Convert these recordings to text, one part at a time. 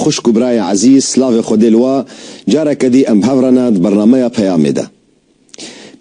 Xwişk û birayê ezîz, slavê Xwedê li we, careke dî em bi hev re ne di bernameya Peyamê de.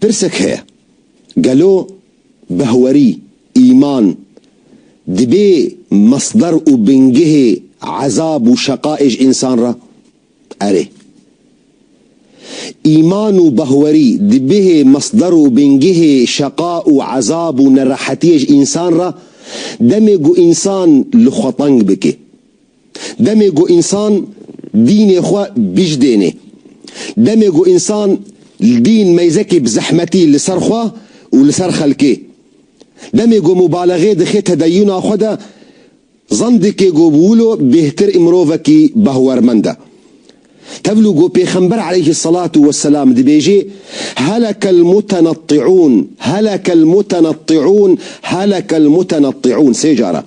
Pirsek heye, gelo behwerî, îman, dibê mesder û bingehê ezab û şeqaê ji însan re? Erê. Îman û behwerî dibihê mesder û bingehê şeqa û ezab û nerehetiyê ji însan re, demê ku însan li xwe teng bike. Demê ku însan dînê xwe bijdênê, demê ku însan li dîn meyzekî bi zehmetî li ser xwe û li ser xelkê, demê ku mubalexe dixe tedeyûna xwe de, zandikê ku bi wilo bêhtir ê mirovekî behwermend e. Tevlû ku Pêxember aleyhî selatû weselam dibêjê, Helekel mutenettiûn, helekel mutenettiûn, helekel mutenettiûn sê car e.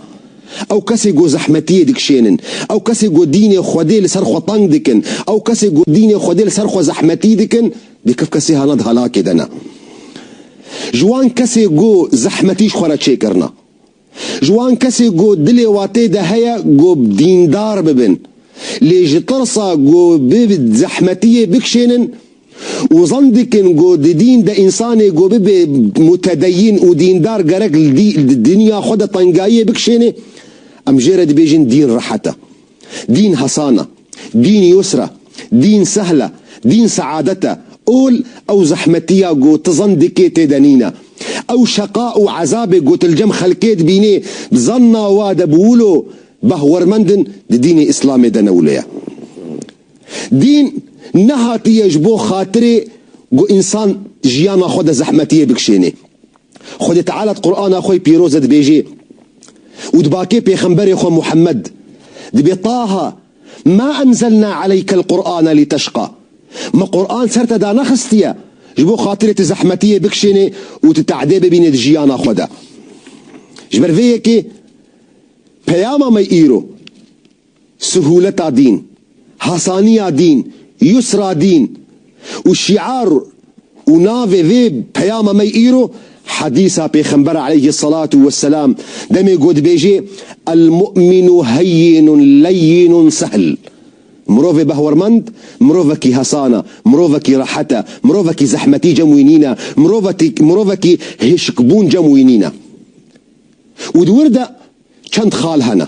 Ew kesên ku zehmetiyê dikişênin, ew kesên ku dînê Xwedê li ser xwe teng dikin, ew kesên ku dînê Xwedê li ser xwe zehmetî dikin, dê kif kesê hana di helakê de ne. Ji wan kesê ku zehmetî ji xwe re çêkirina. Ji wan kesê ku dilê watê de heye ku dîndar bibin, lê ji tirsa ku bi zehmetiyê bikşênin û zan dikin ku di dîn de însanê ku bibe mutedeyîn û dîndar gerek li dinya xwe de tengayiyê bikşênê, em jê re dibêjin dîn rehet e. Dîn hesan e. Dîn yusr e. Dîn sehl e. Dîn seadet e. Ol ew zehmetiya ku tu zan dikê tê de nîne. Ew şeqa û ezabê ku tu li cem xelkê dibînê di zanna we de bi wilo behwermend in di dînê îslamê de ne wilo ye. Dîn nehatiye ji bo xatirê ku însan jiyana xwe de zehmetiyê bikişênê. Xwedê Teala di Qur'ana xwe yê pîroz de dibêjê û di bakê pêxemberê xwe Muhammed dibê Taha Mâ enzelnâ aleykel Qur'ane liteşqa Me Qur'an ser te danaxistiye ji bo xatirê tu zehmetiyê bikişênê û tu te'dê bibînê di jiyana xwe de. Ji ber vê yekê peyama me îro. Suhuleta dîn, hasaniya dîn, yusra dîn û şîar û navê vê peyama me îro hedîsa pêxember aleyhî selatu weselam demê ku dibêje El mu'minu heyyinun leyyinun sehl Mirovê behwermend mirovekî hesan e, mirovekî rehet e, mirovekî zehmetî cem wî nîne, mirovekî hişkbûn cem wî nîne. Û di wir de çend xal hene.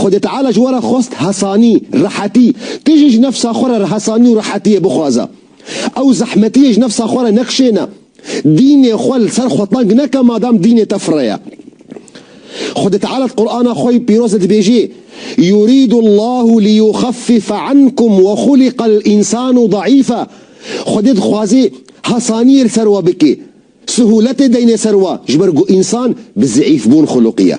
Xwedê Teala ji we re xwest hesanî, rehetî. Tu jî ji nefsa xwe re hesanî û rehetiyê bixwaze. Ew zehmetiyê ji nefsa xwe re nekişêne. Dînê xwe li ser xwe teng neke madam dînê te fire ye. Xwedê Teala di Qur'ana xwe yê pîroz de dibêjê, Yurîdu Llahu liyuxeffife ankum we xuliqel însanu daîfe. Xwedê dixwazê hesaniyê li ser we bike. Sihûletê deyne ser we ji ber ku însan bi zeîfbûn xuluqî ye.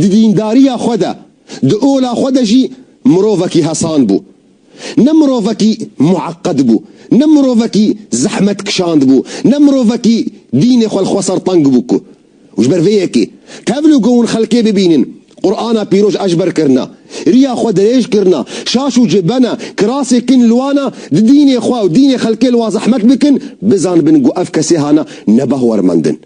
Di dîndariya xwe de, di ola xwe de jî mirovekî hesan bû. Ne mirovekî mueqqed bû, ne mirovekî zehmet kişand bû, ne mirovekî dînê xwe li xwe ser teng bû ku. Û ji ber vê yekê, tevlû ku hûn xelkê bibînin, Qur'ana pîroj ejber kirina, riya xwe dirêj kirina, şaş û cibena, kirasê kin liwana, di dînê xwe û dînê xelkê li wa zehmet bikin, bizanibin ku ev kesê hana nebahwermendin.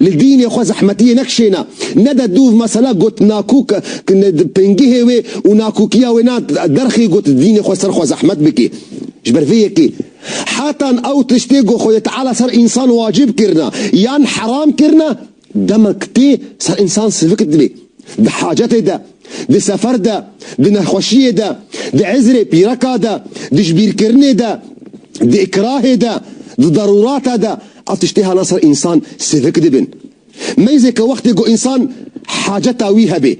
Li dînê xwe zehmetiyê nekişêne. Nede dûv mesela got nakûk di pingihê wê û nakûkiya wê na derxê got dînê xwe ser xwe zehmet bikê. Ji ber vê yekê hetan ew tiştê ku Xwedê Teala ser însan wacib kirine yan heram kirine demek tê ser însan sivik dibe. Di hacetê de, di sefer de, di nexweşiyê de, di izrê pîreka de, di jibîrkirinê de, di îkrahê de, di darûrate de, Ev tiştê hela ser însan sivik dibin. Meyzê ke wextê ku însan haceta wî hebê.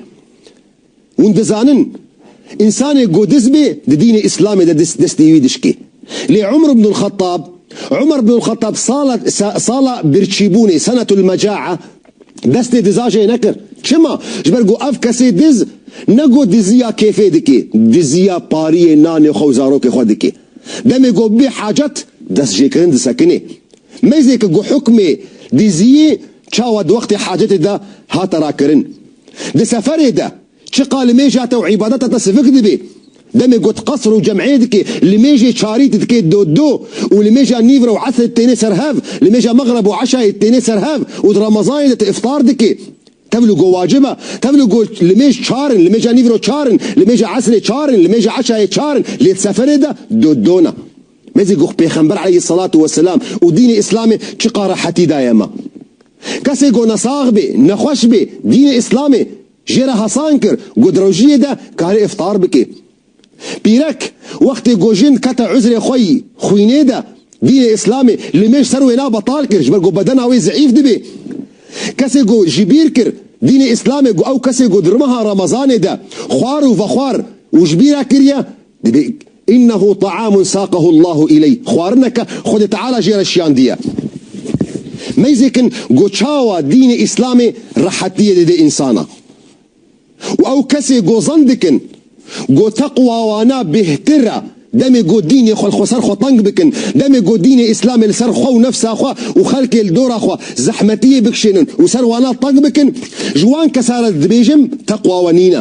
Hûn dizanin însanê ku diz bê di dînê îslamê de destê wî dişkê. Lê Umr ibn el-Xettab, Umar bin el-Xettab, sala sala birçîbûnê, senetul-mecaa, Destê diza jê nekir. Çima? Ji ber ku ev kesê diz ne ku diziya kêfê dike, diziya pariyê nanê xwe û zarokê xwe dike. Demê ku bibê hacet, destjêkirin disekine. Mêzeke ku hukmê diziyê çawa di wextê hacetê de hate rakirin. Di seferê de Çi ka li mêja te û îbadeta te sivik dibê. Demê ku tu qesr û cem'ê dikê, li mêjê çarî tu dikê do-do û li mêja nîvre û esrê tu tênê ser hev, li mêja mexreb û eşayê tu tênê ser hev û di remezanê de tu îftar dikê. Tevlû ku wacib e. Tevlû ku li mêj çar in, li mêja nîvro çar in, li mêja esrê çar in, li mêja eşayê çar in, lê di seferê de do-do ne. Mêzê ku Pêxember aleyhî selatû we selam û dînê îslamê çi ka rehetî daye me. Kesê ku nesax bê, nexweş bê, dînê îslamê, Jê re hesan kir ku di rojiyê de karê îftar bike. Pîrek, wextê ku jin dikete uzrê xwe yî xwînê de, dînê îslamê li mêj ser wêna betal kir ji ber ku bedena wê zeîf dibe. Kesê ku jî bîr kir dînê îslamê ku ew kesê ku di rimeha remezanê de xwar û vexwar û ji bîr e kiriye, Divê Innehu ta'amun saqehu Allahu ileyh xwarineke Xwedê Teala jê re şiyandiye. Mêzek in ku çawa dînê Îslamê rehetiyê dide însana. Û ew kesê ku zan dikin ku teqwa wana bêhtir e demê ku dînê xwe li xwe ser xwe teng bikin, demê ku dînê Îslamê li ser xwe û nefsa xwe û xelkê li dora xwe zehmetiyê bikişênin û ser wana teng bikin, ji wan kesan re dibêjim teqwa we nîne.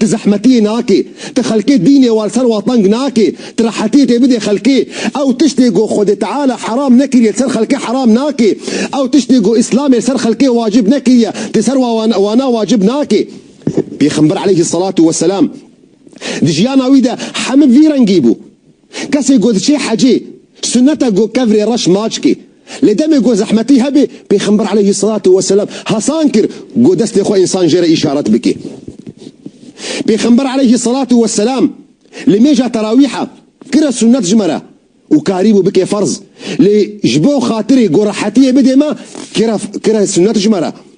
Tu zehmetiyê nake, tu xelkê dînê war ser wa teng nake, tu rehetiyê tê bidê xelkê. Ew tiştê ku Xwedê Teala heram nekiriye li ser xelkê heram nake. Ew tiştê ku Îslamê li ser xelkê wacib nekiriye, tu ser wana wacib nake. Pêxember aleyhî selatû weselam di jiyana wî de heme vî rengî bû. Kesê ku diçê hecê, sunet e ku kevirê reş naçikê. Lê demê ku zehmetî hebe, Pêxember eleyhî selatû weselam hesan kir ku destê xwe însan jê re îşaret bike. Pêxember eleyhî selatû weselam li mêja terawîha kire sunet ji me re û karîbû bike ferz. Lê ji bo xatirê ku rehetiyê bide me, kire sunet ji me re.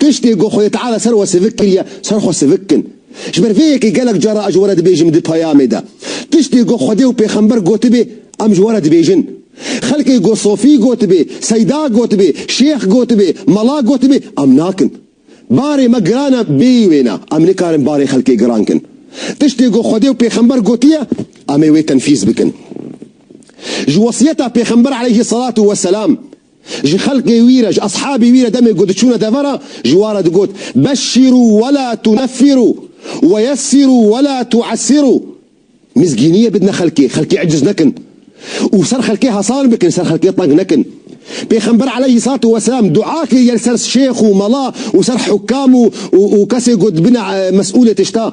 Tiştê ku Xwedê Teala ser we sivik kiriye, ser xwe sivik kin. Ji ber vê yekê gelek cara ez ji we re dibêjim di peyamê de. Tiştê ku Xwedê û pêxember gotibê, em ji we re dibêjin. Xelkê ku Sofî gotibê, Seyda gotibê, Şêx gotibê, Mala gotibê, em nakin. Barê me giran e bêyî wêne, em nikarin barê xelkê giran kin. Tiştê ku Xwedê û pêxember gotiye, em ê wê tenfîz bikin. Ji wesiyeta pêxember aleyhî selatu weselam. Ji xelkê wî re, ji eshabî wî re demê ku diçûne devera ji wa re digot, Beşşîrû wela tuneffirû weyessîrû wela tuessîrû, Mizgîniyê bidine xelkê, xelkê eciz nekin û ser xelkê hesan bikin, ser xelkê teng nekin. Pêxember aleyhî salatu weselam dua kir yer ser şêx û mela û ser hukam û û kesê ku dibine mesûlê tişta.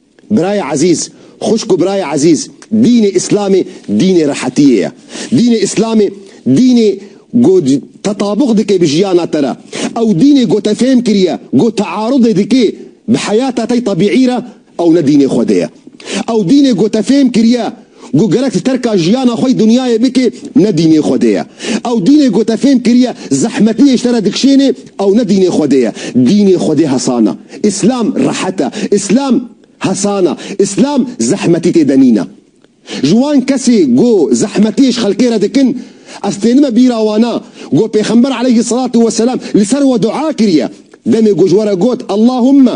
Birayê ezîz, xwişk û birayê ezîz, dînê îslamê dînê rehetiyê ye. Dînê îslamê dînê ku tetabûq dike bi jiyana te re. Ew dînê ku te fêm kiriye ku tearudê dike bi heyata te tebîî re ew ne dînê Xwedê ye. Ew dînê ku te fêm kiriye Ku gerek li terka jiyana xwe yê dinyayê bike ne dînê Xwedê ye. Ew dînê ku te fêm kiriye zehmetiyê ji te re dikşênê ew ne dînê Xwedê ye. Dînê Xwedê hesan e. Îslam rehet e. Îslam hesan e. Îslam zehmetî tê de nîne. Ji wan kesê ku zehmetiyê ji xelkê re dikin ez tênime bîra wana ku pêxember eleyhî selatû weselam li ser we dua kiriye demê ku ji we re got Ellahûmme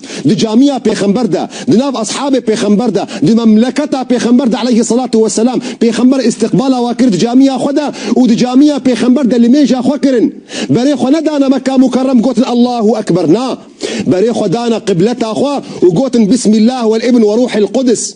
di camîya pêxember de, di nav eshabê pêxember de, di memleketa pêxember de eleyhi selatu we selam, pêxember îstîqbala we kir di camîya xwe de û di camîya pêxember de limêja xwe kirin. Berê xwe nedane Mekka Mukerrem gotin Allahu Ekber na, berê xwe dane qibleta xwe û gotin Bismillah Wel'ibn Werûhil Qudis.